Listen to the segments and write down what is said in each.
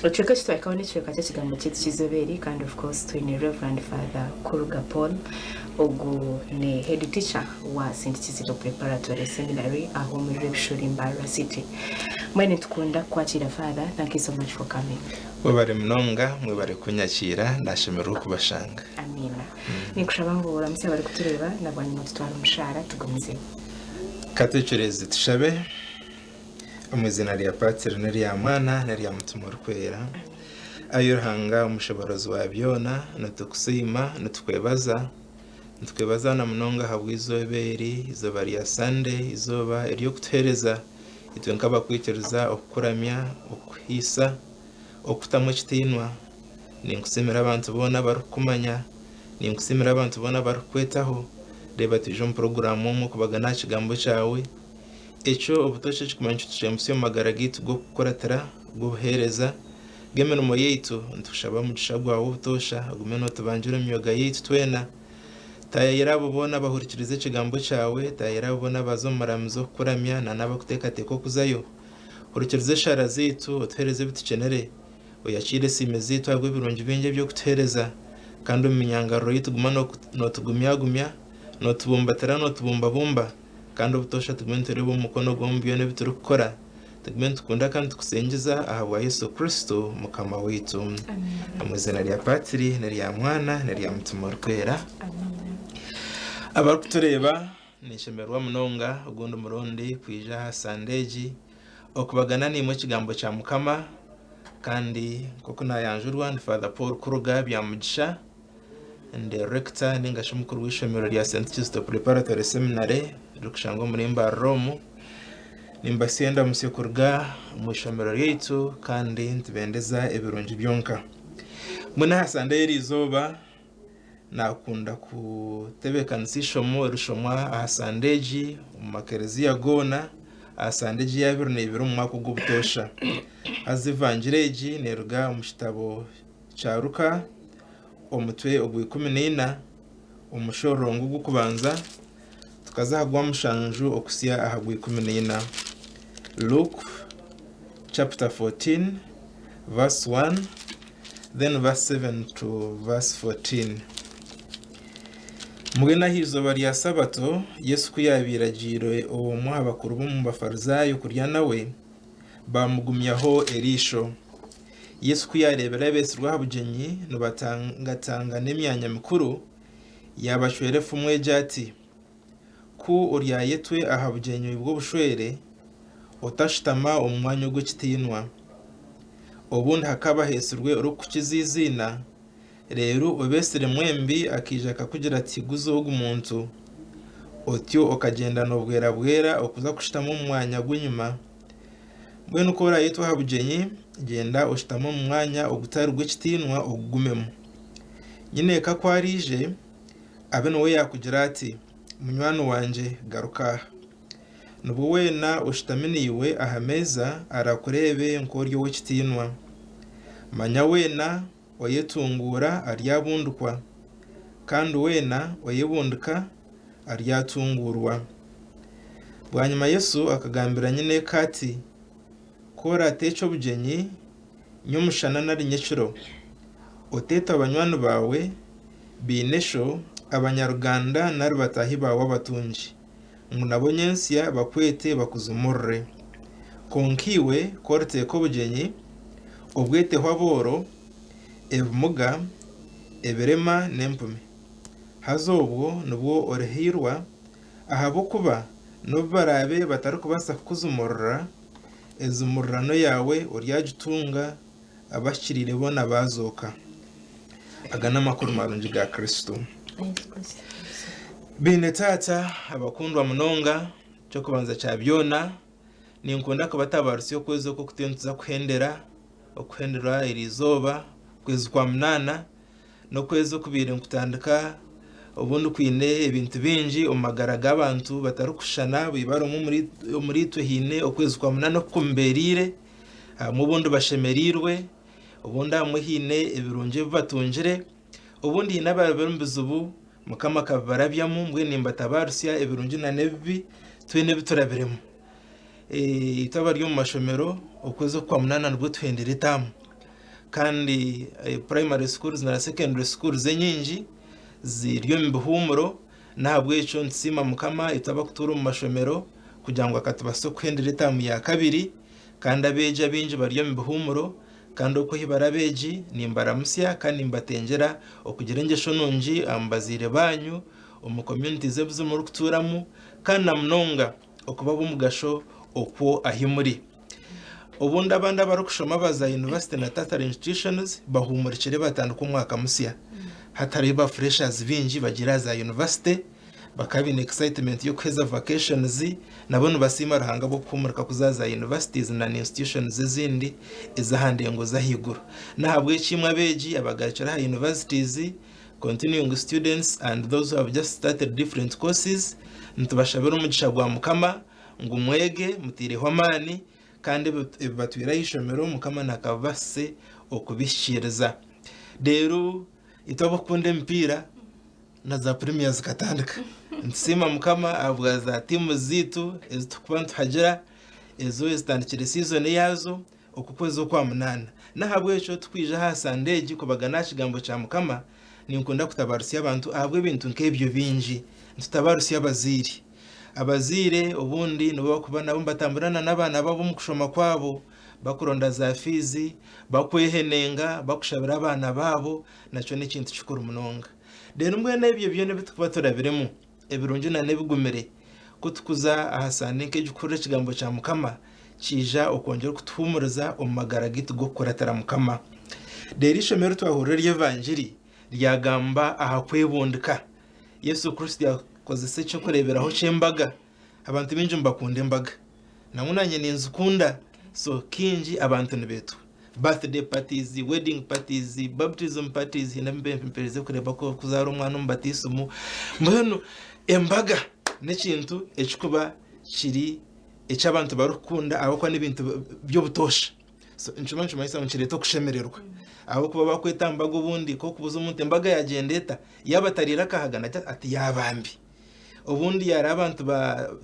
Ekicweka eki twahikaho n'ekicweka ky'ekigambo kyaitu ky'eizoobeeri kandi of course twine Rev. Father Kuruga Paul ogu ni Head Teacher wa Saint Kizito Preparatory Seminary aho omuri Rwebishori Mbarara City. Mbwenu nitukunda kukwakiira Father thank you so much for coming. Webare munonga mwebare kunyakiira nashemererwa okubashanga. Amiina. Ninkushaba ngu oramutse abarikutureeba na bwanyima otutware omushaara tugumizeyo. Katwecureze tushabe. Omu izina rya Patiri n'erya Mwana n'erya Mutima Orikwera. Ai Ruhanga Omushoboorozi wa byona, nitukusiima, nitukwebaza. Nitukwebaza na munonga ahabw'eizooba eri, eizooba rya Sande, eizooba ery'okutuheereza itwe nk'abakwikiriza okukuramya, okukuhaisa, okukutamu ekitiinwa. Ninkusiimira abantu boona abarikukumanya. Ninkusiimira abantu boona abarikukwetaho. Reeba twije omu puroguraamu emwe okubagana aha Kigambo kyawe. Ekyo obutoosha eki kumanya nikitushembutsya omu magara gaitu g'okukuratira g'obuheereza. G'emirimo yaitu, nitukushaba omugisha gwawe obutoosha ogume nootubangira omu myoga yaitu twena. Taayaira abo boona abahurikiriza ekigambo kyawe. Taayaira abo boona abaaza omu muramizo kukuramya na n'abakuteekateeka okuzayo. Hurikiriza eshaara zaitu, otuheereze ebi tukinire. Oyakiire esiime zaitu ahabw'ebirungi bingi ebi okutuheereza. Kandi omu minyangariro yaitu guma nootugumyagumya, nootubumbatira, nootubumbabumba. Kandi obutoosha tugume nitureeba omu mukono gwe omu byona ebi turikukora. Tugume nitukunda kandi nitukusingyiza ahabwa Yesu Kristo Mukama waitu. Omu izina rya Patiri n'erya Mwana n'erya Mutima Orikwera. Abarikutureeba, ninshemererwa munonga ogundi murundi kwija aha Sande egi okubagana naimwe ekigambo kya Mukama. Kandi nk'oku naayanjurwa ndi Father Paul Kuruga Byamugisha. Nde Rector ninga shi Omukuru w'eishomero rya St. Kizito Preparatory Seminary ririkushangwa omuri Mbarara omu. Nimbatsya endamutsyo kuruga omu eishomero ryaitu kandi nitubendeza ebirungi byonka. Mbwenu aha Sande y'eri izooba naakunda kutebeekanisa eishomo erishomwa aha Sande egi omu makereziya goona aha Sande egi yaabire neibiri omu mwaka ogw'obutoosha. Haza evangiri egi neeruga omu kitabo kya Luka omutwe ogwa ikumi na ina omushororongo ogw'okubanza tukaza aha gwa mushanju okutsya aha gwa ikumi na ina. Luke chapter 14 verse 1 then verse 7 to verse 14. Mbwenu aha izooba rya sabato Yesu ku yaabaire agiire omwe aha bakuru b'omu Bafarizaayo kurya nawe, baamugumyaho eriisho. Yesu ku yaareebire abeetsirwe aha bugyenyi nibatangatangana emyanya mikuru, yaabacwera efumu egi ati, Ku oryayetwe aha bugyenyi bw'obushwere, otashutama omu mwanya ogw'ekitiinwa. Obundi hakaba haheetsirwe orikukukiza eiziina, reero obeetsire mwembi akaija akakugira ati, Guza ogu muntu. Otyo okagyendana obwerabwera okuza kushutama omu mwanya gw'enyima. Mbwenu ku oraayetwa aha bugyenyi, gyenda oshutame omu mwanya ogutari gw'ekitiinwa ogugumemu. Nyineeka ku araije, abe niwe yaakugira ati, Munywani wangye, garuka aha. Nibwo weena oshutami naiwe aha meeza araakureebe nk'ori ow'ekitiinwa. Manya weena Oyetunguura aryabundukwa, kandi weena oyebundika aryatunguurwa. Bwanyima Yesu akagambira nyineeka ati, Ku oraateekye obugyenyi nyomushana nari nyekiro, oteetwa banywani baawe, baineshwo, abanyaruganda nari bataahi baawe abatungi, ngu nabo onyentsya bakwete bakuzumurure. Kwonka iwe ku oriteeka obugyenyi, obweteho abooro, ebimuga, ebirema n'empumi, haza obwo nibwo orihairwa, ahabw'okuba n'obu baraabe batarikubaasa kukuzumurura, enzumurirano yaawe oryagitunga abahikiriire boona baazooka. Aga n'amakuru marungi ga Kristo. Bainetaata abakundwa munonga, eky'okubanza kya byona, ninkunda kubatabaarisa okwezi oku kutyo nituza kuhendera, okuhenderwa eri izooba, okwezi kwa munaana, n'okwezi okubaire nikutandika obu ndikwine ebintu bingi omu magara g'abantu batarikushushana, baibarumu omuriitwe haine okwezi kwa munaana oku kumibeereire. Abamwe obundi bashemereirwe, obundi abamwe haine ebirungi ebi batungire, obundi haine abaabaire omu bizibu Mukama akabibarabyamu. Mbwenu nimbatabaarutsya ebirungi nana ebibi, twena ebi turabiremu. Itwe abari omu mashomero okwezi okwa munaana nibwo tuhendire etaamu. Kandi primary schools na secondary schools enyingi ziri omu bihuumuro. N'ahabw'ekyo nitusiima Mukama itwe abakutuura omu mashomero kugira ngu akatubaasisa okuhendera etaamu ya kabiri kandi abeegi abaingi bari omu bihuumuro kandi oku ahi bari abeegi nimbaramutsya kandi nimbatengyera okugira engyesho nungi omu bazaire baanyu omu communities ebu zimwe orikutuuramu kandi na munonga okuba ab'omugasho okwo ahi muri. Obundi abandi abarikushoma ba za yunivasite na tertiary institutions bahuumurikire batandika omwaka musya. Hatariho ba freshers baingi bagiire aha za yunivasite, bakaba baine excitement y'okuheza vacations nabo nibasiima Ruhanga ahabw'okuhuumurika kuza aha za universities na institutions ezindi ez'aha ndengo z'ahaiguru. N'ahabw'eki imwe abeegi abagarukire aha universities Continuing students and those who have just started different courses nitubashabira omugisha gwa mukama ngu mwege muteireho amaani kandi ebi ebibatweire aha ishomero mukama nakabibasise okubihikiiriza reero itwe abokukunda emipiira na za premier zikatandika nitusiima mukama ahabwa za teams zaitu ezitukuba nituhagira ezo ezitandikire season yaazo. Oku kwezi okwa munaana. N'ahabw'ekyo turikwija aha Sande egi kubagana aha Kigambo kya Mukama. Ninkunda kutabarutsya abantu ahabw'ebintu nk'ebyo bingi. Nitutabarutsya abazaire. Abazaire obundi nibo barikuba nabo nibatamburana n'abaana baabo omu kushoma kwabo, bakuronda za fiizi, bakwehenenga, bakushabira abaana baabo. Nakyo n'ekintu kikuru munonga. Reero mbwenu ebyo byona ebi turikuba turabiremu, ebirungi na n'ebigumire. Ku tukuza aha saande nk'egi kuhurira ekigambo kya Mukama, kiija okwongyera okutuhuumuriza omu magara gaitu g'okukuratira Mukama. Reero eishomo eri twahurira ery'Evangiri ryagamba aha kwebundika. Yesu Kristo yakozesa eky'okureeberaho ky'embaga. Abantu baingi nibakunda embaga. Nangwa nanye ninzikunda so kingi abantu nibetwa birthday parties, wedding parties, baptism parties hiine abempererize kureba ku kuzaara omwana omu batisimu mbwenu embaga n'ekintu ekikuba kiri eki abantu barikukunda ahabw'okuba n'ebintu by'obutosha so nikimwe nikimanyisa ngu nikireeta okushemererwa ahabw'okuba bakweta aha mbaga obundi nk'okubuza omuntu embaga yagyenda eta? Yaaba atariire akahaga nagye ati yaaba mbi. Obundi yaareba abantu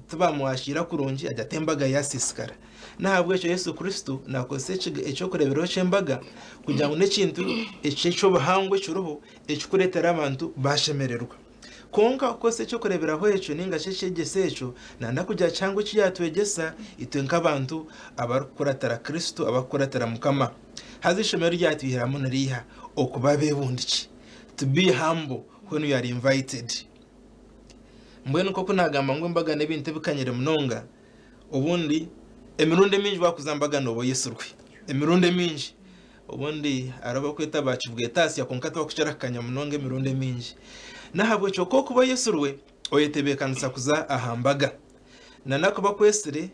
tibamwashiira kurungi agira ati, Embaga yaasiisikara. N'ahabw'ekyo Yesu Kristo naakozesa eky'okureeberaho ky'embaga kugira ngu n'ekintu eki eky'obuhangwa ekiriho ekikureetera abantu baashemererwa. Kwonka okukozesa eky'okureeberaho ekyo nainga shi ekyegyeso ekyo nanda kugira kihango eki yaatwegyesa itwe nk'abantu abarikukuratira Kristo, abarikukuratira Mukama. Haza eishomero ryatwihiramu niriiha okuba abeebundikye, to be humble when we are invited. Mbwenu nk'oku naagamba ngu embaga n'ebintu ebikanyire munonga, obundi emirundi emingi waakuza mbaga nooba oyetsirwe, emirundi emingi. Obundi hariho abarikweta ba kibwetatsya kwonka tibakukira kukanya munonga emirundi emingi. N'ahabw'ekyo ku orikuba oyetsirwe, oyetebeekanisa kuza aha mbaga. Nana ku bakwetsire,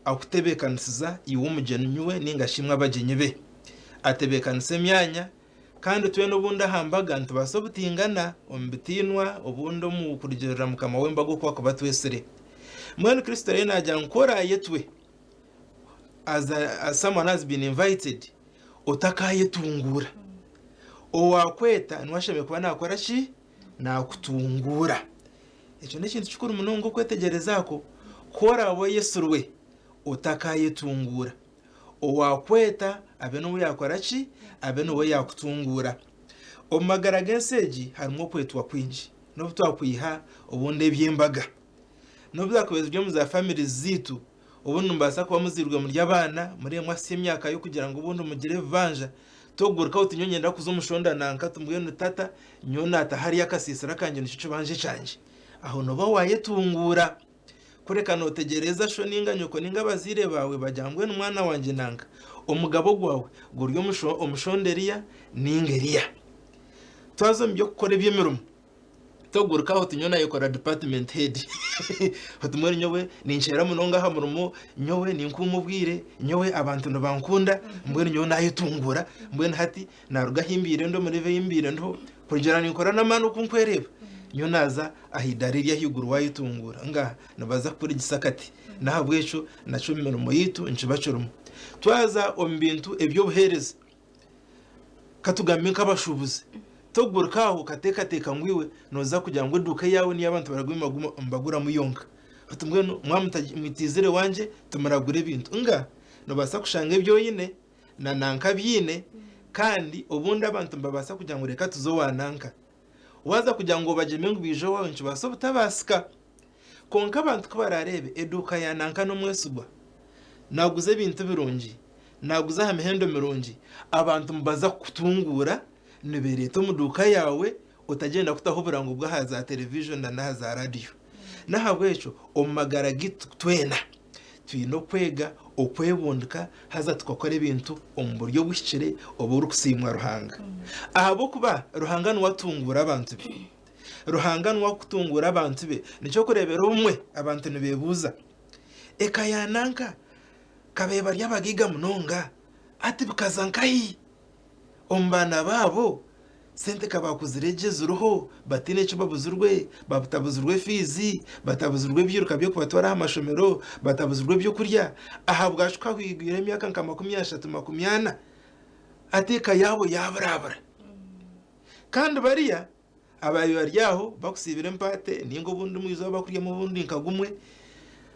akutebeekanisiza iwe omugyenyi we nainga shi imwe abagyenyi be. Atebeekanisa emyanya Kandi twena obundi aha mbaga nitubaasa obutingana omu bitiinwa, obundi omu kurugirira mukama w'embaga oku akuba atwetsire. Mbwenu Kristo ariyo naagira ngu ku oraayetwe as a, as someone has been invited, otakayetunguura. Owaakweta niwe ashemereire kuba naakora ki? Naakutunguura. Ekyo n'ekintu kikuru munonga okwetegyereza ku ku oraabe oyetsirwe otakayetunguura. Owaakweta abe n'ou yaakora ki? Abe n'ou yaakutunguura. Omu magara g'ensi egi harimu okwetwa kwingi. N'obu twakwiha obundi eby'embaga, n'obu byakuba ziri omu za famire zaitu, obundi nimubaasa kuba muzairwe muri abaana, muri emwe ahitsya emyaka y'okugira ngu obundi mugire ebibanja, tokuguruka oti nyowe niinyenda kuza omu shonda nanka oti mbwenu tata nyowe naata hariya akasiisira kangye nikyo kibanja kyangye. Aho nooba waayetunguura. Kureka notegyereeza sho ninga nyoko ninga abaziire baawe bagira mbwenu mwana wangye nanga omugabo gwawe guri omushonda Eriya ninga Eriya. Twaza omu by'okukora eby'emirimo toguruka oti nyowe nayekora department head oti mbwenu nyowe ninceera munonga aha murimo, nyowe ninkuuma obwire, nyowe abantu nibankunda, mbwenu nyowe nayetunguura mbwenu hati Naaruga ahi mbaire ndi omu reeva ei mbaire ndiho, kurugiirira ninkora n'amaani oku nkwereeba, nyowe naaza aha idaara eri ahaiguru waayetunguura nga nibaza kukuregisa akati. N'ahabw'ekyo nakyo omu mirimo yaitu nikiba kirimu. Twaza omu bintu eby'obuheereza, ka tugambe nk'abashuubuzi, togurika aho okateekateeka ngu iwe nooza kugira ngu eduuka yaawe n'eyi abantu baraguma nibaguramu yonka. Oti mbwenu mwaba mutaija, mwitiizire wangye tumuragure ebintu. Nga noobaasa kushanga ebi oine. na nanka abyine kandi obundi abantu nibabaasa kugira ngu reka tuze owa nanka. Waaza kugira ngu obagyeme ngu baije owaawe nikibaasa obutabaasika. Kwonka abantu ku baraareebe eduuka ya nanka n'omwesigwa, naaguza ebintu birungi, naaguza aha mihendo mirungi, abantu nibaza kukutunguura nibeereeta omu duuka yaawe Otagyenda kutaho oburango bw'aha za televijoni na n'aha za radiyo. N'ahabw'ekyo, omu magara gaitu twena, twine okwega okwebundika haza tukakora ebintu omu buryo obuhikire oburikusiimwa Ruhanga. Ahabw'okuba Ruhanga niwe atunguura abantu be. Ruhanga niwe arikutunguura abantu be. Nikyo okureebera obumwe abantu nibeebuuza, Eka ya nanka ka beebarya abagaiga munonga, hati bikaza nkahi? omu baana baabo sente ka baakuzire gye ziriho bataine eki babuzirwe, batabuzirwe fiizi, batabuzirwe ebyiruka by'okubatwara aha mashomero, batabuzirwe ebyokurya ahabwaki kwahwigwire emyaka nka makumi ashatu makumi ana ati eka yaabo yaaburabura? Kandi bariya Abaabaire bari aho bakusiibire empaate nainga obundi omu izooba bakuryamu obundi nka gumwe.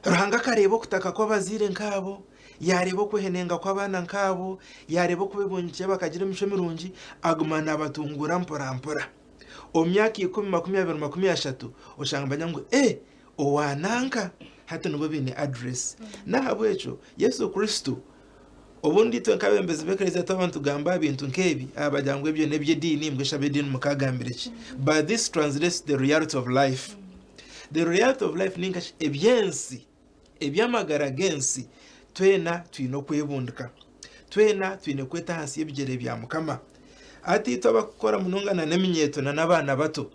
Ruhanga akareeba okutaka kw'abazaire nk'abo, yaareeba okwehenenga kw'abaana nk'abo, yaareeba oku beebungikire bakagira emicwe mirungi, aguma naabatunguura mporampora. Omu myaka ikumi, makumi abiri, makumi ashatu, oshanga nibagira ngu, Ee, owa nanka? Hati nibo baine adireesi. N'ahabw'ekyo Yesu Kristo Obundi itwe nk'abeebembezi b'Eklezia twaba nitugamba aha bintu nk'ebi, aha baagira ngu ebyo n'eby'ediini, mbwenu shi ab'ediini mukaagambire ki? But this translates the reality of life. The reality of life ninga shi eby'ensi, eby'amagara g'ensi, twena twine okwebundika. Twena twine kweta ahansi y'ebigyere bya Mukama. Hati itwe abarikukora munonga n'eminyeeto n'abaana bato,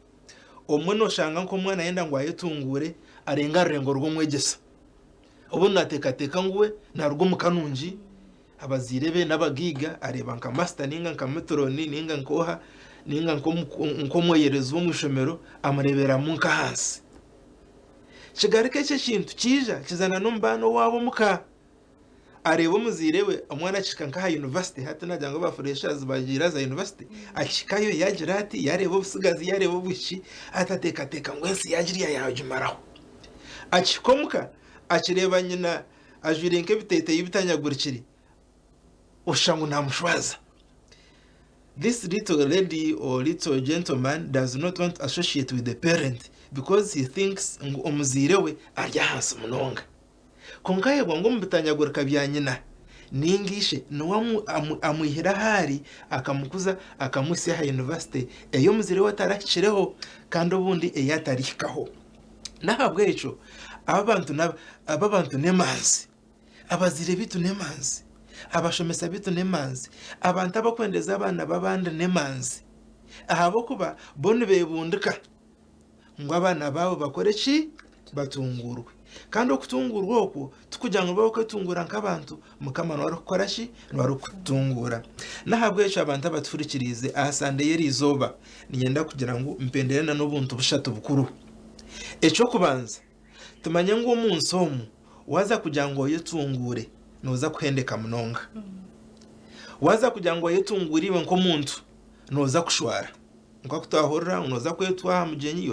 obumwe nooshanga nk'omwana ayenda ngu ayetunguure arenge aha rurengo rw'omwegyesa. Obwo nateekateeka ngu we naaruga omu ka nungi, abazaire be n'abagaiga, areeba nka masita nainga nka meturoni nainga nk'oha nainga nk'omweyerezi w'omu ishomero amureeberamu nk'ahansi. Kigaruka ekyo ekintu kiija kiza n'omu baana owaabo omu ka. Areeba omuzaire we omwana akihika nk'aha yunivasite, hati naagira ngu aba fureeshazi baagira aha za yunivasite, akihikayo yaagira ati yaareeba obutsigazi yaareeba obuhiki, ati ateekateeka ngu ensi yaagira yaagimaraho. Akihika omu ka, akireeba nyina ajwaire nk'ebiteeteeyi bitanyagurikire, oshusha ngu naamushwaza. This little lady or little gentleman does not want to associate with the parent because he thinks ngu omuzaire we ari ahansi munonga. Kwonka aheebwa ngu omu bitanyagurika bya nyina nainga ishe niwe amwihire ahu ari, akamukuza, akamuhitsya aha yunivasite ei omuzaire we atarahikireho kandi obundi ei atarihikaho. N'ahabw'ekyo aba abantu n'emanzi. Abazaire baitu n'emanzi. Abashomesa baitu n'emanzi. Abantu abarikwendeeza abaana b'abandi n'emanzi. Ahabw'okuba bo nibeebundika. ngu abaana baawe bakore ki? Batunguurwe. Kandi okutunguurwa okwo tikugira ngu nibabaasa kwetunguura nk'abantu, Mukama niwe arikukora ki? Niwe arikututunguura. N'ahabw'ekyo abantu abatuhurikiriize aha Sande y'eri izooba, niinyenda kugira ngu mpendeere n'obuntu bushatu bukuru. Eky'okubanza, Tumanye ngu omu nsi omu waaza kugira ngu oyetunguure nooza kuhendeka munonga. Waaza kugira ngu oyetunguure iwe nk'omuntu nooza kushwara. Kwonka ku twahurira ngu nooza kwetwa aha mugyenyi,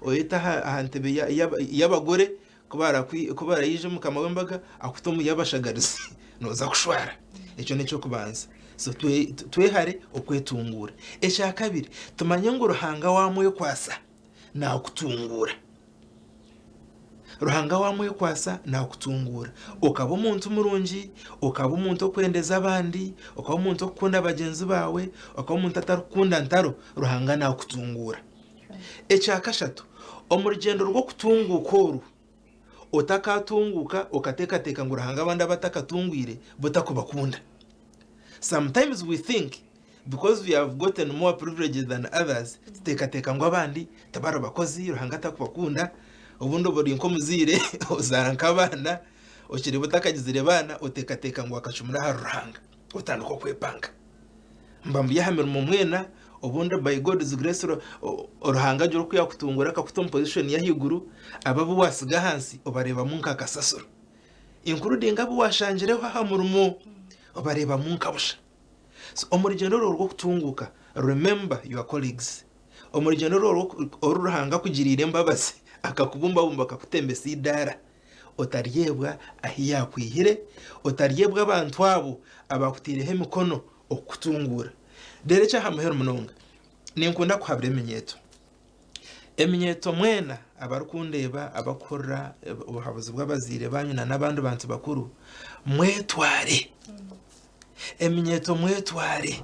oyete aha ntebe y'abagore, ku baraije omukama w'embaga akute omu y'abashagarizi nooza kushwara. Ekyo n'eky'okubanza. So twehare okwetunguura. Ekyakabiri, tumanye ngu Ruhanga waamwekwatsa naakutunguura. Ruhanga waamwekwatsa naakutunguura okaba omuntu murungi, okaba omuntu orikwendeza abandi, okaba omuntu orikukunda bagyenzi baawe, okaba omuntu atarikukunda ntaro, Ruhanga naakutunguura. Ekya kashatu, omu rugyendo rw'okutunguuka oru, otakatunguuka okateekateeka ngu Ruhanga abandi abu atakatungwire bo takubakunda. Sometimes we think because we have gotten more privileges than others tuteekateeka ngu abandi tibari bakozi Ruhanga takubakunda, obundi oba ori nk'omuzaire ozaara nk'abaana okireeba otakagizire baana oteekateeka ngu akacumura ahari Ruhanga. Otandika okwepanga mba mbi aha mirimo mwena obundi by God's grace Ruhanga agira oku yakutunguura akakuta omu position y'ahaiguru abo abu watsiga ahansi obareebamu nka kasasiro including abu washangireho aha murimo obareebamu nka busha. So omu rugyendo orwo rw'okutunguuka remember your colleagues. Omu rugyendo orwo oru Ruhanga akugiriire embabazi akakubumbabumba akakutembesa eidaara. otaryebwa ahu yaakwihire, otaryebwa abantu abo abaakutaireho emikono okukutunguura. Reero eky'aha muheru munonga, ninkunda kuhabura eminyeeto. Eminyeeto mwena abarikundeeba abarikuhurira obuhabuzi bw'abazaire baanyu nana abandi bantu bakuru, mwetware. Eminyeeto mwetware.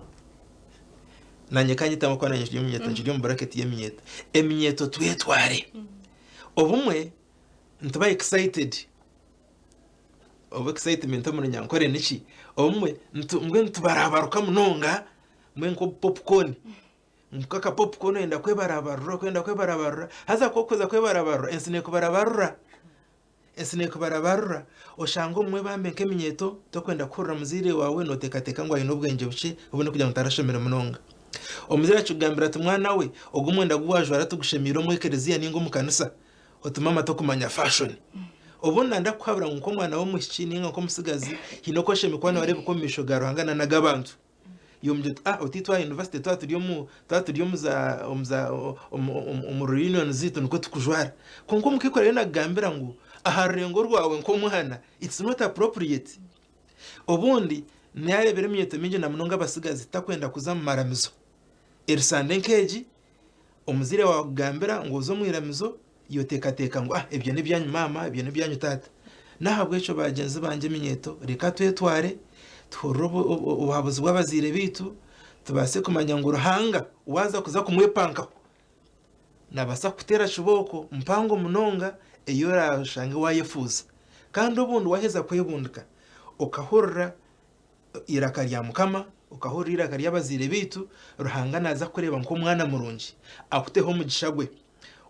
Naanye ka nyetaamu ahakuba naanye nkiri omunyeeto, nkiri omu buraketi y'eminyeeto. Eminyeeto twetware. Obumwe nituba excited oba excitement omu runyankore niki? obumwe mbwenu nitubarabaruka munonga mbwenu nk'obu popcorn nka aka popcorn oyenda kwebarabarura okwenda kwebarabarura haza ku orikuza kwebarabarura ensi nekubarabarura ensi nekubarabarura oshange obumwe bambe nk'eminyeeto torikwenda kuhurira muzaire waawe noteekateeka ngu aine obwengye bukye obumwe n'okugira ngu tarashomire munonga. Omuzaire akikugambira ati mwana we ogu omwenda gu waajwara tigushemeire omu ekereziya ninga omu kanisa. Otume amate okumanya fashoni. Obunda ndakuhabura ngu nk'omwana w'omwishiki ninga nk'omutsigazi hiine oku oshemereire kuba noreebeka omu maisho ga Ruhanga na nag'abantu. Yombi oti ah oti twa university twa turi omu twa turi omu za omu za omu reunion ziitu nikwo tukujwara. Kwonka omukaikuru ariyo nakugambira ngu aha rurengo rwawe nk'omwana it's not appropriate. Obundi nareebera eminyeeto mingi na munonga abatsigazi takwenda kuza mumaramizo erisande nk'egi. Omuzaire waawe akugambira ngu oze omu iramizo, y'oteekateeka ngu, Ah, ebyo n'ebyanyu maama, ebyo n'ebyanyu taata. N'ahabw'ekyo bagyenzi bangye eminyeeto, reka twetware tuhurire obuhabuzi bw'abazaire baitu, tubaase kumanya ngu Ruhanga waaza kuza kumwepankaho, naabaasa kukuteera kibooko mpango munonga ei oraashange waayefuuza. Kandi obundi waaheza kwebundika, okahurira eiraka rya mukama, okahurira eiraka ry'abazaire baitu, Ruhanga naaza kukureeba nk'omwana murungi, akuteho omugisha gwe,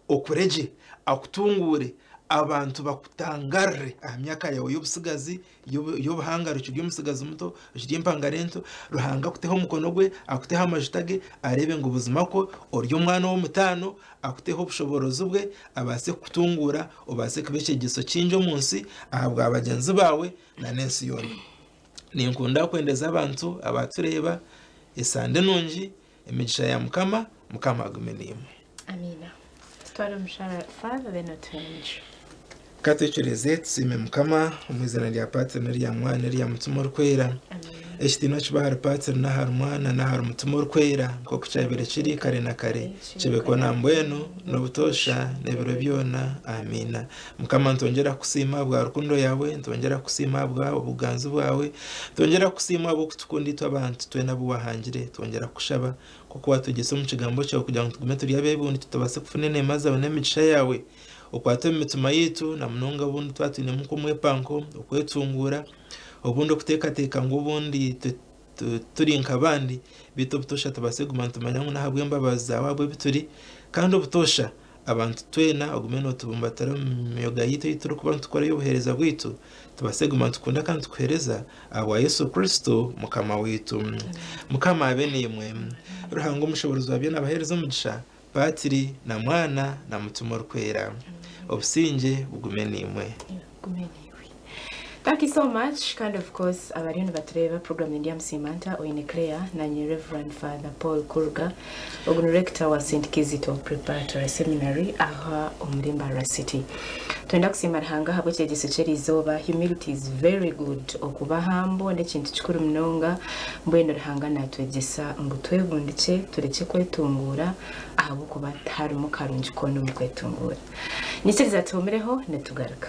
okure gye, akutunguure, abantu bakutangarire aha myaka yaawe y'obutsigazi, y'obuhangare okiri omutsigazi muto, okiri empangare nto, Ruhanga akuteho omukono gwe, akuteho amajuta ge, areebe ngu buzima kwo ori omwana ow'omutaano, akuteho obushoboorozi bwe, abaase kukutunguura, obaase kuba ekyegyeso kingi omu nsi ahabwa bagyenzi baawe, na n'ensi yoona. Ninkunda kwendeza abantu abatureeba esande nungi emigisha ya mukama mukama agume naimwe. Amiina tutware omushara Father then otuhe enyishu. Katwekyereze tusiime mukama omu izina rya patiri nerya mwana nerya mutima orikwera ekitiinwa kibe ahari patiri nahari mwana nahari mutima orikwera nkoku kyabaire kiri kare na kare kibe kwo nambwenu nobutoosha nebiro byoona amiina Mukama nitwongyera kusiima ahabwa rukundo yaawe, nitwongyera kukusiima ahabwa obuganzi bwawe, nitwongyera kukusiima ahabw'okutukunda itwe abantu twena abu wahangire, twongyera kukushaba nk'oku watwegyesa omu kigambo kyawe kugira ngu tugume turi abebundi tutabaase kufuna eneema zaawe n'emigisha yaawe, okwate omu mitima yaitu na munonga obundi twaba twinemu nk'omwepanko, okwetunguura, obundi okuteekateeka ngu obundi Turi nk'abandi, beitu obutosha tubaase kuguma nitumanya ngu n'ahabw'embabazi zaawe ahabwe bi turi. Kandi obutosha, abantu twena ogume nootubumbatira omu myoga yaitu ei turikuba nitukora ey'obuheereza bwaitu, tubaase kuguma nitukunda kandi nitukuheereza ahabwa Yesu Kristo Mukama waitu. Mukama abe naimwe. Ruhanga Omushoboorozi wa byona abaheereze omugisha. Patiri na Mwana na Mutima Orikwera. Obusingye bugume naimwe. Bugume naiwe. Thank you so much kandi of course abariyo nibatureeba program ni Ndyamusiima Nta oine Claire nanye Rev. Father Paul Kuruga ogu ni Rector wa St Kizito Preparatory Seminary aha omuri Mbarara City. Twenda kusiima Ruhanga ahabw'ekyegyeso ky'eriizooba. Humility is very good. Okuba humble n'ekintu kikuru munonga. Mbwenu Ruhanga naatwegyesa ngu twebundikye, turekye kwetunguura ahabw'okuba tiharimu karungi koona omu kwetunguura. Nyikiriza tuhumireho nitugaruka.